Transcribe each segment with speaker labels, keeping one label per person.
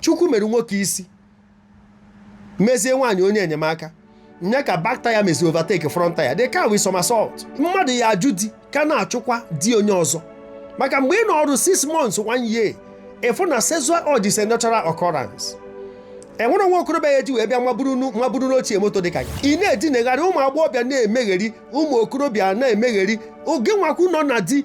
Speaker 1: chukwu mere nwoke isi mezie nwaanyị onye enyemaka nye ka back tire mezi overtake front tire the car will somersault mmadụ ya ajụ di ka na-achụkwa di onye ọzọ maka mgbe ị nọọrụ 6 months 1 year ị fụ na sexual urge is a natural occurrence enwere nwa okorobịa a eji wee bịa maburu nu- maburu n'ochie moto dịka gị ị na-edinegharị ụmụ agbọghọbịa na-emegheri ụmụ okorobịa na-emegheri oge nwakwu nọ na di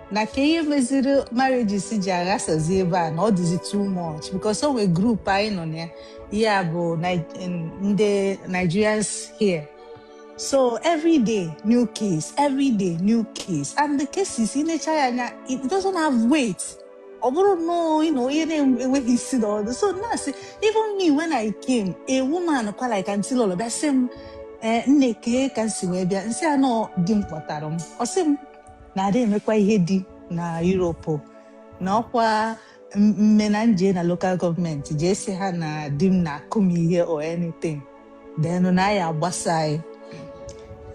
Speaker 2: na kee ihe meziri marriages ji aghasazi ebe a na ọ dịzi too much because o nwe group anyị nọ na ya ya bụ Ni- n- ndị Nigerians here so every day new case every day new case and the cases ị necha ya anya it doesn't have weight ọ bụrụ nnọọ you know, ihe na-enweghị isi na ọdụ so na-asị even me when I came a woman kwa like aunty lọlọ bịa sị m ee nne kee ka m si wee bịa m sị ya na ọ di m kpọtara m ọ sị m na adị emekwa ihe di na Europe na ọkwa m- mme na nje na lokal gọọmenti jee sị ha na di m na-akụ m ihe or anything then na ya agbasa anyị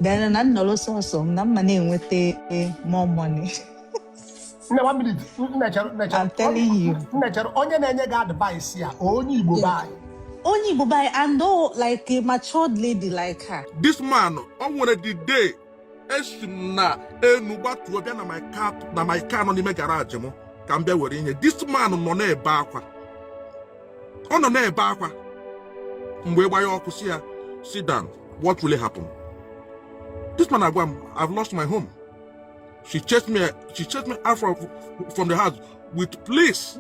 Speaker 2: then na nnọrọ sọsọ m na m ma na-enweta eh, more money nne
Speaker 3: one minute nne chere nne chere
Speaker 2: I'm telling you. nne chere onye na-enye
Speaker 3: gị advice ya onye igbo be anyị onye igbo be
Speaker 2: anyị and though like a matured lady like her this man ọ
Speaker 4: nwere the day esi m n'enu gbatuo bịa na my car na my car nọ n'ime garaji m ka m bịa were ihe this man nọ na-ebe akwa ọ nọ na-ebe akwa mgbe gbanye ọkụ sị ya sit down what really happen this man agwa m I've lost my home she chased me she chased me out from, from the house with police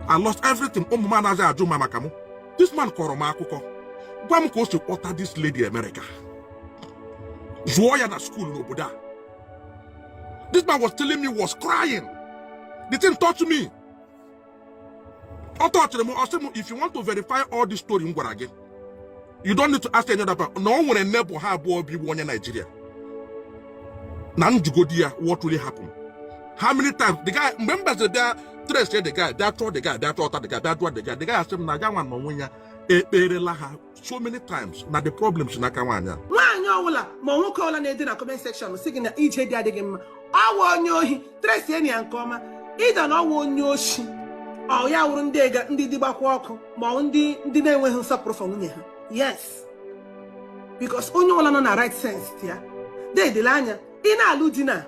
Speaker 4: I lost everything ụmụ m anaghị ajụ ma maka m this man kọrọ m akụkọ gwa m ka o si kpọta this lady America zụọ ya na skuul n'obodo a this man was telling me was crying the thing touched me ọ tọchịrị m ọ sị m if you want to verify all this story m gwara gị you don't need to ask any other person na o nwere neighbour ha abụọ bụ iwu onye Naijiria na njụgodị ya what really happened how many times the guy mgbe m bịaziri bịa trace the guy bịa chọọ the guy bịa chọta the guy bịa jụọ the guy the guy asị m na ya nwa n'onwe ya ekpeerela ha so many times na the problem si n'aka nwaanyị a nwaanyị ọwụla
Speaker 5: ma nwoke ọwụla na-ede na comment section sị gị na ije di adịghị mma ọ wụ onye ohi trace nụ ya nke ọma ịda na ọ wụ onye oshi ọ ya wụrụ ndị ega ndị di gbakwa ọkụ ma ọ ndị ndị na-enweghị nsọpụrụ for nwunye ha yes because onye ọbụla nọ na right sense ya dedele anya ị na-alụ di na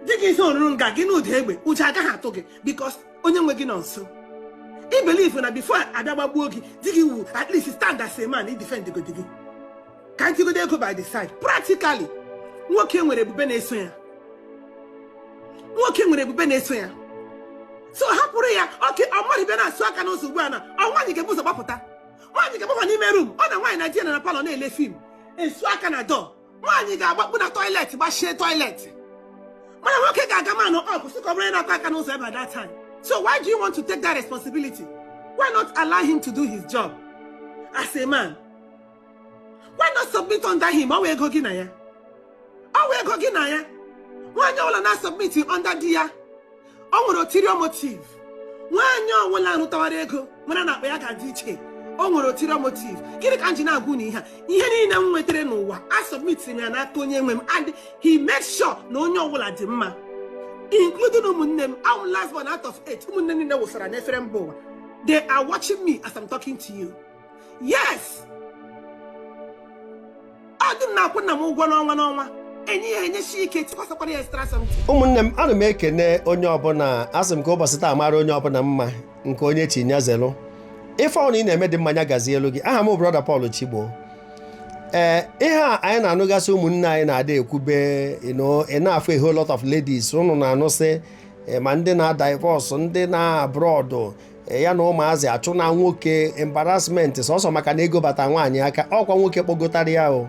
Speaker 5: di gị isi oruru nga gị nụ ụda egbe ụjọ agaghị atụ gị because onye nwe gị nọ nso i believe na before abịa gbagbuo gị di gị wu at least stand as a man i defend godi gị ka m tigodo ego by the side practically nwoke nwere ebube na-eso ya nwoke nwere ebube na-eso ya so hapụrụ ya okay ọ mmadụ bịa na-asụ aka n'ụzọ ugbu a na ọ nwaanyị ga-ebu ụzọ gbapụta nwaanyị ga-agbakwa n'ime rum ọ na nwaanyị na di ya nọ na palọ na-ele fim a sụọ aka na door nwaanyị ga-agbakpu na toilet gbachie toilet mana nwoke ga-aga man up sị ka ọ mara onye na-akụ aka n'ụzọ by that time so why do you want to take that responsibility why not allow him to do his job as a man why not submit under him ọ wụ ego gị na ya ọ wụ ego gị na ya nwaanyị ọbụla na-asọbmitighị under di ya o nwere ulterior motive nwaanyị ọwụla rụtawara ego mara na akpa ya ga-adị iche o nwere ulterior motive gịrị ka m ji na-agwa unu ihe a ihe niile m nwetara n'ụwa a sọbmitiri m ya n'aka onye nwe m and he made sure na onye ọbụla dị mma including ụmụnne m I'm last born out of eight ụmụnne m niile wụsara n'efere mba ụwa they are watching me as I'm talking to you yes ọ di m na-akwụ nna m ụgwọ n'ọnwa
Speaker 1: n'ọnwa enye ya enyechi ike tụkwasịkwara ya extra something ụmụnne m ana m ekene onye ọbụla asị m ka ụbọchị taa mara onye ọbụla mma nke onye chi nya zelụ ife ọnụ ị na-eme dị mma nya gazielụ gị aha m bụ brọda Paul Chigbo ee ihe a anyị na-anụgasị ụmụnne anyị na-ada ekwube you know, ị na-afụ a whole lot of ladies ụnụ na-anụsị eh, ma ndị na-adivọs ndị na abroad e, ya na ụmụazị achụna nwoke embarrassment sọsọ maka na ego bata nwaanyị aka ọkwa nwoke kpọgotara ya o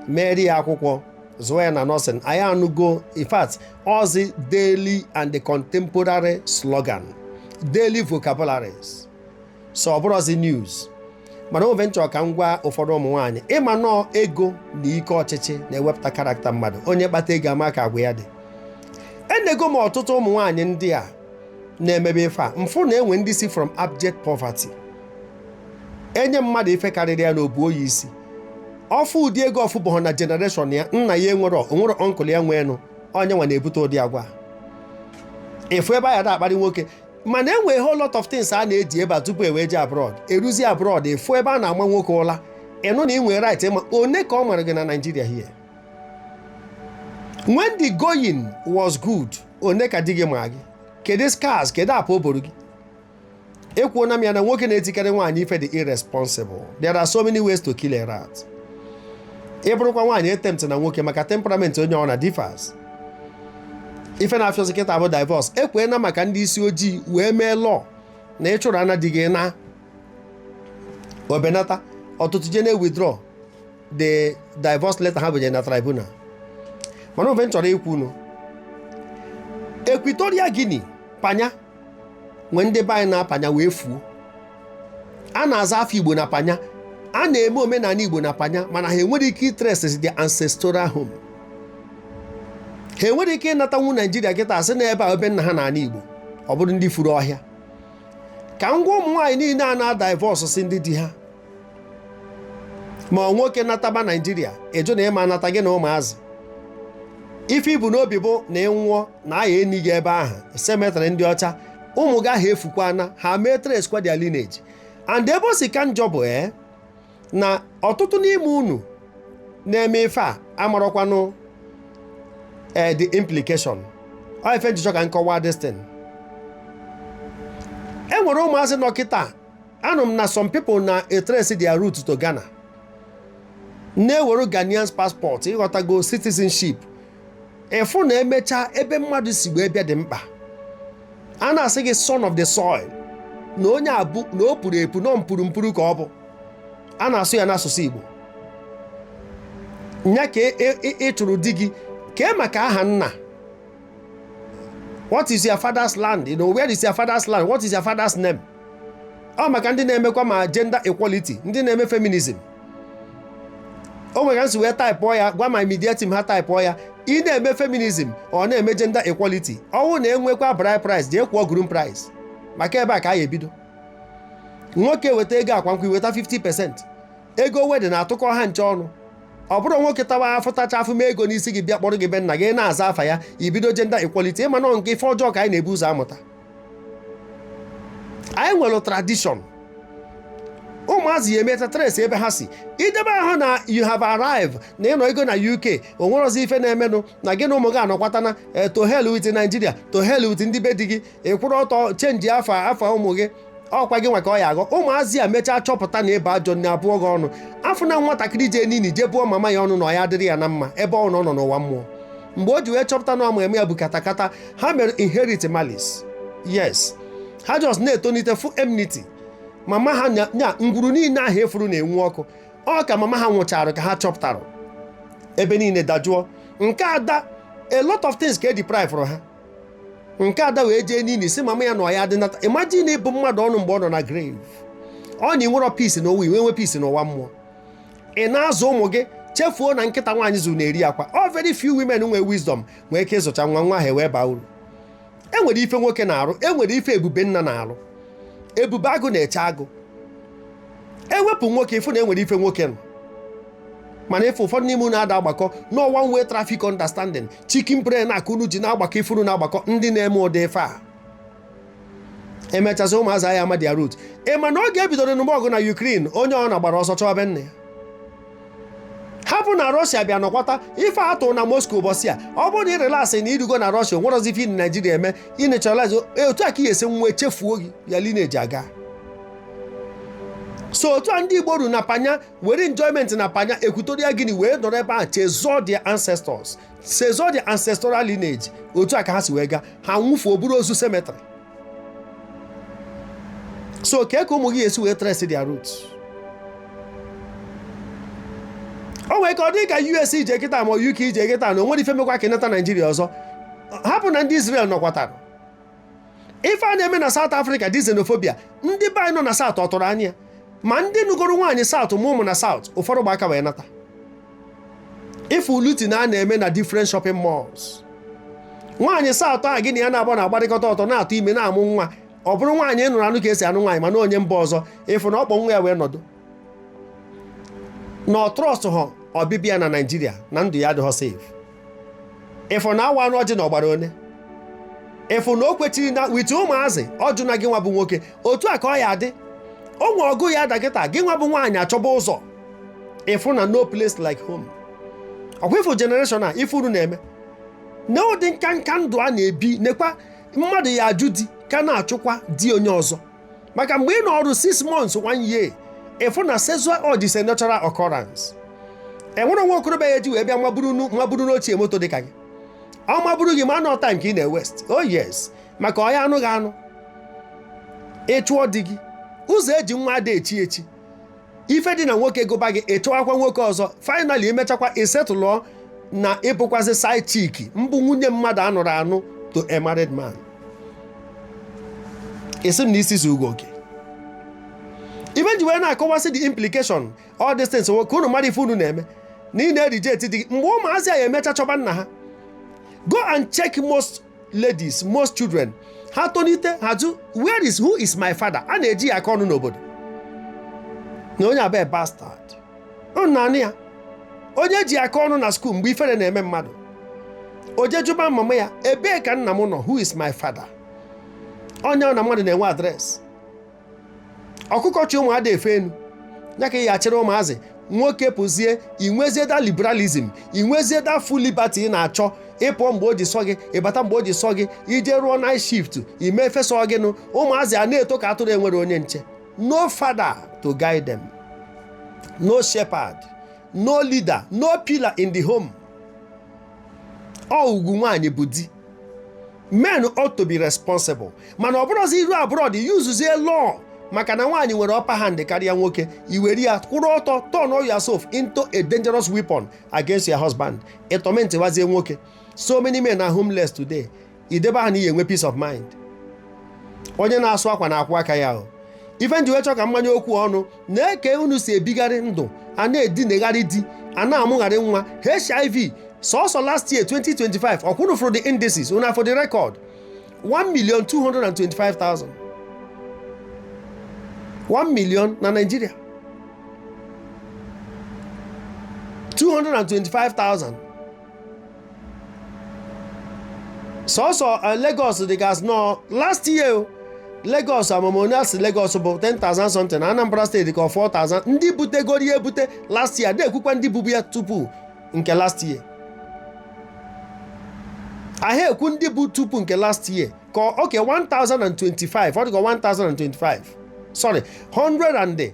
Speaker 1: meere ya akwụkwọ zụọ ya na nọsịn anyị anụgo in fact ọzi daily and the contemporary slogan daily vocabularies so ọ bụrọzi news mana ọ ife m chọrọ ka m gwa ụfọdụ ụmụ nwaanyị ị ma na ọ ego na ike ọchịchị na-ewepụta karakta mmadụ onye kpata ego a ma ka agwa ya dị enego m ọtụtụ ụmụ nwaanyị ndị a na-emebe ife a m fụ na e nwee ndị si from abject poverty enye mmadụ ife karịrị ya na o buo ya isi ọ fụ ụdị ego ọ fụbụghọ na generation ya nna ya enwerọ o nwerọ ọnkụl ya nweenụ ọ nya nwa na-ebute ụdị agwa ị fụ ebe a da-akparị nwoke mana e nwe whole lot of things a na-edi ebe a tupu e wee je abroad e ruzie abroad ị fụ ebe a na-agba nwoke ụla ị nụ na ị nwere right ma one ka ọ mara gị na Nigeria here when the going was good one ka di gị ma gị kedu scars kedu apa o boro gị ekwuona m ya na nwoke na-etikarị nwaanyị ife dị irresponsible there are so many ways to kill a rat ị bụrụkwa nwaanyị etemptna nwoke maka temperament onye ọ na differs ife na-afịọzi kịta bụ divọs e kwe na maka ndị isi ojii wee mee law na ịchụrụ ana di gị na o benata ọtụtụ je na-ewithdraw the divorce letter ha bunyere na tribunal mana ọ ife m chọrọ ikwunu Equatorial Guinea panya nwee ndị be anyị na panya wee fuo a na-aza afa Igbo na panya a na-eme omenala Igbo na panya mana ha enwere ike itrace their ancestral home ha enwere ike ịnatanwu Naijiria kịta sị na ebe a ọ be nna ha na ala Igbo ọ bụrụ ndị furu ọhịa ka m gwa ụmụ nwaanyị niile a na-adivorce ndị di ha ma ọ nwoke nataba Naijiria ị jụ na ị ma-anata gị na ụmụazị ife i bu n'obi bụ na ị nwụọ na a ya-eni gị ebe ahụ cemetery ndị ọcha ụmụ gị ahụ efukwana ha ma-etracekwa their lineage and ebe o si ka njọ bụ ee na ọtụtụ n'ime unu na-eme ife a amarọkwanụ ee the implication ọ ife m ji chọọ ka m kọwaa this thing e nwere ụmụazị nọ kịta anụ m na some people na-etrace their root to Ghana na-ewere Ghanaian passport ị ghọtago citizenship ị fụ na e mechaa ebe mmadụ si wee bịa dị mkpa a na-asị gị son of the soil na onye a bụ na o puru epu nọ mpuru mpuru ka ọ bụ a na-asụ ya n'asụsụ Igbo nya ka e, e, e, ị chụrụ di gị kee maka aha nna what is your father's land you know where is your father's land what is your father's name ọ maka ndị na-emekwa ma gender equality ndị na-eme feminism o nwere ka m si wee taịpụọ ya gwa my media team ha taịpụọ ya ị na-eme feminism ọ na-eme gender equality ọnwụ na enwekwa bride price jee kwụọ groom price maka ebe a ka a ya-ebido nwoke weta ego ịgba nkwụ i weta 50 percent ego wedding a tụkọ ha ncha ọnụ ọ bụrọ nwoke tawa afụ tacha afụ mee ego n'isi gị bịa kpọrọ gị be nna gị na-aza afa ya i bido gender equality ị ma na ọ nke ife ọjọọ ka anyị na-ebu ụzọ amụta anyị nwere tradition ụmụazị ya emeta trace ebe ha si i debe ahụ na you have arrived na ị nọgo na UK o nwerozi ife na-emenụ na gị na ụmụ gị anọkwatana eh, to hell with Nigeria to hell with ndị be di gị ị kwụrụ ọtọ chenji afa afa ụmụ gị ọ kwa gị nwa ka ọ ya-aghọ ụmụazị a mechaa chọpụta na ị bụ ajọ nne a bụọ gị ọnụ a fụ na nwatakịrị jee n'ini jee bụọ mama ya ọnụ na ọ ya adịrị ya na mma ebe ọ nọ nọ n'ụwa mmụọ mgbe o ji wee chọpụta na ọ mummy ya bụ katakata ha mere inherit malice yes ha just na-etonite fụ enmity mama ha nya ngwuru niile ahụ efuru na-enwu ọkụ ọ ka mama ha nwụchara ka ha chọpụtara ebe niile dajụọ nke ada a lot of things ka e deprive ha nke ada wee jee n'ini sị mama ya na ọya dị nata imagine ịbụ mmadụ ọnụ mgbe ọ nọ na grave ọ na i nwerọ peace n'ụwa i wee nwee peace n'ụwa mmụọ ị na-azụ ụmụ gị chefuo na nkịta nwaanyị zụrụ na-eri akwa very few women nwee wisdom nwee ike ịzụcha nwa nwa ahụ wee baa uru enwere ife nwoke na-arụ enwere ife ebube nna na-arụ ebube agụ na-eche agụ ewepụ nwoke ịfụ na enwere ife nwoke nọ mana ife ụfọdụ n'ime unu ada agbakọ na one way traffic understanding chicken brain a ka unu ji na-agbakọ ife unu na-agbakọ ndị na-eme ụdị ife a emechasị ụmụazị anyị ama their root ị ma na oge ebidoro nụba ọgụ na Ukraine onye ọbụna gbara ọsọ chọwa be nna ya hapụ na Russia bịa nọkwata ife atụ na Moscow ụbọchị a ọ bụrụ na ị relax na irugo na Russia nwerọzi ife na Naijiria eme ị naturalize otu a ka ị esi wee chefuo gị your lineage aga so otu a ndị Igbo ru na panya were enjoyment na panya Equatorial Guinea wee nọrọ ebe a chezọọ their ancestors chezọọ their ancestral lineage otu a ka ha si wee gaa ha nwụfuo bụrụ ozu cemetery so kee ka ụmụ gị ya esi wee trace their root o nwere ka ọ dị ka US ị jee kịta ma UK ị jee kịta na o nwere ife mekwa ka ị nata naijiria ọzọ hapụ na ndị israel nọkwatara ife a na-eme na South Africa the xenophobia ndị be anyị nọ na South ọ tụrụ anya ma ndị nụgoro nwaanyị South ma ụmụ na South ụfọdụ gba aka wee nata ịfụ looting a a na-eme na different shopping malls nwaanyị South a gị na ya na-agba na agbarịkọta ọtọ na-atụ ime na-amụ nwa ọ bụrụ nwaanyị nụrụ anụ ka esi anụ nwaanyị mana onye mba ọzọ ịfụ na ọ kpọ nwa ya wee nọdụ na ọ trust ha ọbịbịa na Naịjirịa na ndụ ya adịghọ safe ịfụ na awaanụ ọjị na ọ gbara one ịfụ na o kwechiri na with ụmụazị ọ jụ na gị nwa bụ nwoke otu a ka ọ ya adị o nwe ọgụ ya ada kịta gị nwa bụ nwaanyị achọba ụzọ ịfụ na no place like home ọkwa ịfụ generation a ife unu na-eme na ụdị nka nka ndụ a na-ebi nekwa mmadụ ya ajụ di ka na-achụkwa di onye ọzọ maka mgbe ị nọọrọ 6 months one year ịfụ na sexual urge is a natural occurrence enwere nwa okorobịa ya eji wee bịa maburu n'ochie moto dị ka gị ọ maburu gị ma na ọ time ka ị na-ewest oh yes maka ọ ya anụ gị anụ ịchụọ di gị ụzọ eji nwa ada echi echi ife dị na nwoke gụba gị ịchọwakwa nwoke ọzọ finally imechakwa isetụlụọ na ịbụkwazị side chick mbụ nwunye mmadụ anụrụ anụ to a married man esi m na isi si ugo oke ife m ji wee na-akọwasị the implication all these things ka unu mara ife unu na-eme na ị na-ereject di gị mgbe ụmụazị a emecha chọba nna ha go and check most ladies most children ha tonite ha jụ where is who is my father a na-eji ya akọ ọnụ n'obodo na onye a bụ bastard neenụ ya onye eji akọ ọnụ na skuul mgbe ifere na-eme mmadụ o jee jụba mama ya ebee ka nna m nọ who is my father onye ọbụna mmadụ na-enwe address ọkụkọ chị ụmụ ada efe enu ya ka ị ya achịrị ụmụazị nwoke pụzie inwezie that liberalism inwezie that full liberty ị na-achọ ịpụọ mgbe o ji sọ gị ịbata mgbe o ji sọ gị ije rụọ night shift ime ife sọ gị nụ ụmụazị a na-eto ka atụrụ enwere onye nche no father to guide them no shepherd no leader no pillar in the home ọ ugwu nwaanyị bụ di men ought to be responsible mana ọ bụrụzi iru abroad yuzuzie law maka na nwaanyị nwere upper hand karịa nwoke iwere ya kwụrụ ọtọ turn yourself into a dangerous weapon against your husband ịtọmentịwazie nwoke so many men are homeless today idebe ha na ị ya enwe peace of mind onye na-asụ akwa na-akwọ aka ya o ife m ji wee chọọ ka m manye okwu ọnụ na-eke unu si ebigharị ndụ a na-edinegharị di a na-amụgharị nwa hiv sọsọ last year 2025 ọkwa unu fụrụ the indices unu afụ the record 1,225,000 1 million na Nigeria 225,000 sọsọ eh, Lagos dịgasị nọ last year Lagos amam onye asị Lagos bụ 10,000 something na Anambra steeti ka 4,000 ndị butegoro ya ebute last year na-ekwukwa ndị bubu ya tupu nke last year ahịa ekwu ndị bụ tupu nke last year ka oke 1025 ọ dịka 1025 sorry 100 and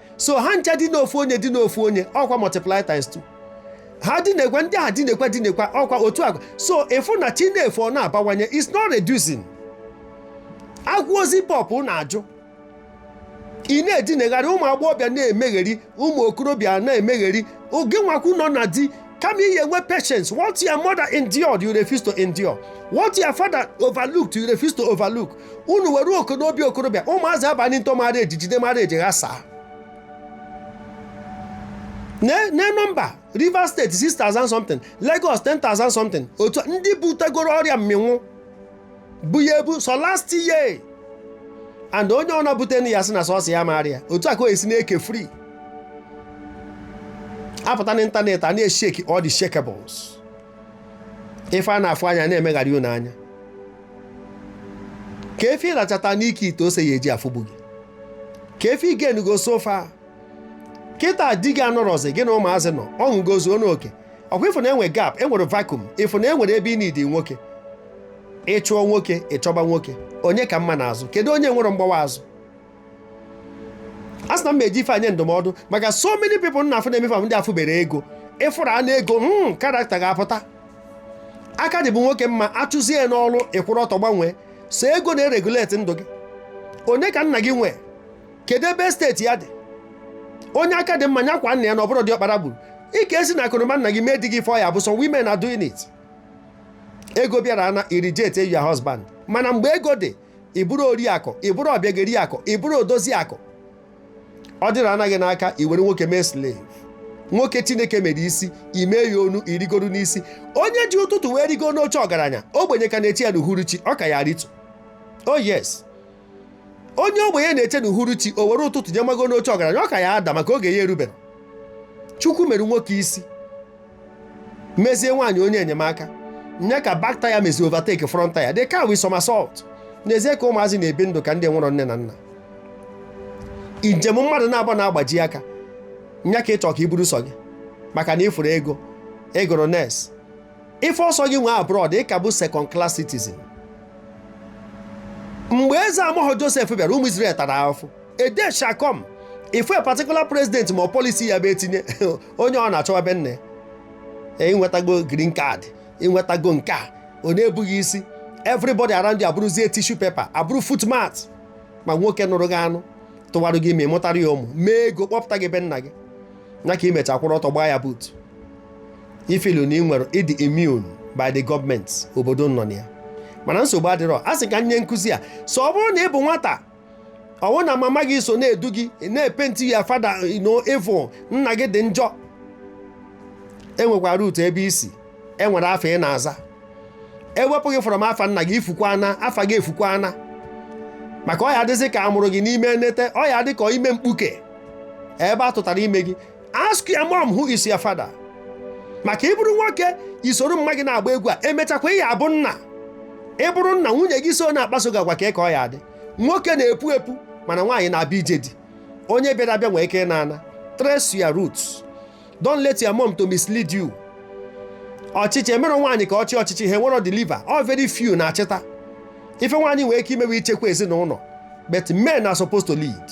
Speaker 1: so ha ncha dina ofu onye dina ofu onye ọkwa multiply times 2 ha dinakwa ndị ha dinakwa dinakwa ọkwa otu agwa so ịfụ na chi na-efo ọ na-abawanye it's not reducing agwa gị zip up ị na-ajụ ị na-edinegharị ụmụ agbọghọbịa na-emegheri ụmụ okorobịa na-emegheri ọ gị nwa kwu nọ na di Kama ị ya enwe patience. What your mother endured, you refuse to endure. What your father overlooked, you refuse to overlook. Unu were ọkụ n'obi okorobịa, ụmụazị abanye into marriage jide marriage ghasaa. Ne nọmba Rivers State 6,000 something, Lagos 10,000 something. Otu ndị butegoro ọrịa mmịnwụ bu ya ebu sọ last year and onye ọbụna bute ya sị na sọsọ ya ama arịa otu a ka o esi na-eke free apụta n'ịntanetị a na-esheki all the shekables ife a na-afụ anya na-emegharị unu anya ka efi ịrachata n'ike ite ose ya eji afụgbu gị ka efi igenugo sofa kịta di gị anọrọzi gị na ụmụazị nọ ọṅụ gozuo n'oke ọkwa ịfụ na enwe gap enwere vacuum ịfụ na enwere ebe ị need nwoke ịchụọ nwoke ịchọba nwoke onye ka mma n'azụ kedu onye nwere mgbawa azụ a sị na m eji ife enye ndụmọdụ maka so many people na afụ na-emefe ndị afụbere ego ịfụrụ anụ ego hmm, character ga-apụta aka dị bụ nwoke mma achụzie n'ọrụ ịkwụrụ ọtọ gbanwee so ego na-ereguleti ndụ gị onye ka nna gị nwee kedu ebe steeti ya dị onye aka dị mma nyakwa nna ya na ọbụrụ diọkpara gburu ike esi na akụnụba nna gị mee di gị fọ ya bụ so women are doing it ego bịara na ị relegate your husband mana mgbe ego dị ịbụrụ oriakụ ịbụrụ ọbịageri akụ ịbụrụ odozi akụ ọ dịrị anaghị n'aka iwere nwoke mee slave nwoke chineke mere isi ime ya onu irigoro n'isi onye ji ụtụtụ wee rigo n'oche ọgaranya ogbenye ka na-eche ya n'uhuruchi ọ ka ya ritụ oh yes onye ogbenye na-eche na uhuruchi o were ụtụtụ jee mago n'oche ọgaranya ọ ka ya ada maka oge ya erubere chukwu mere nwoke isi mezie nwaanyị onye enyemaka nye ka back tire mezi overtake front tire the car will somersault n'ezie ka ụmụazị na-ebi ndụ ka ndị nwụrụ nne na nna njem mmadụ naabọ na-agbaji aka nya ka ịchọ ka i buru sọ gị maka na ịfụrụ ego ịgụrụ nurse ife ọ sọ gị nwee abroad ị ka bụ second class citizen mgbe eze amaghị joseph bịara ụmụ israel tara ahụfụ a day shall come ịfụ a particular president ma policy ya bụ etinye onye ọ na-achọwa be nne ịnwetago green card ịnwetago nke a ọ na-ebu gị isi everybody around you abụrụzie tissue paper abụrụ footmat ma nwoke nụrụ gị anụ tụwarụ gị ime ị mụtara ya ụmụ mee ego kpọpụta gị be nna gị nya ka imecha kwụrụ ọtọ gbaa ya boot ị feel na ị nwere ịdị immune by the government obodo nọ na ya mana nsogbu adịrọ a sị ka nye nkụzi a so ọ bụrụ na ị bụ nwata ọ bụ na mama gị so na-edu gị na-epenti your father evil nna gị dị njọ enwekwara root ebe i si enwere afa ị na-aza ewepụ gị from afa nna gị ifukwana afa gị efukwana maka ọ ya adịzi ka a mụrụ gị n'ime nete ọ ya dị ka ime mkpuke ebe a tụtara ime gị ask your mom who is your father maka ịbụrụ nwoke isoro mma gị na-agba egwu a emechakwa ị ya abụ nna ịbụrụ nna nwunye gị so na-akpaso gị agwa ka ịka ọ ya adị nwoke na-epu epu mana nwaanyị na-abịa ije di onye bịara abịa nwee ike ịna ana trace your roots don't let your mom to mislead you ọchịchị emerọ nwaanyị ka ọ chịa ọchịchị ha enwerọ deliver only very few na-achịta ife nwaanyị nwee ike imewe ichekwa ezinụlọ but men are supposed to lead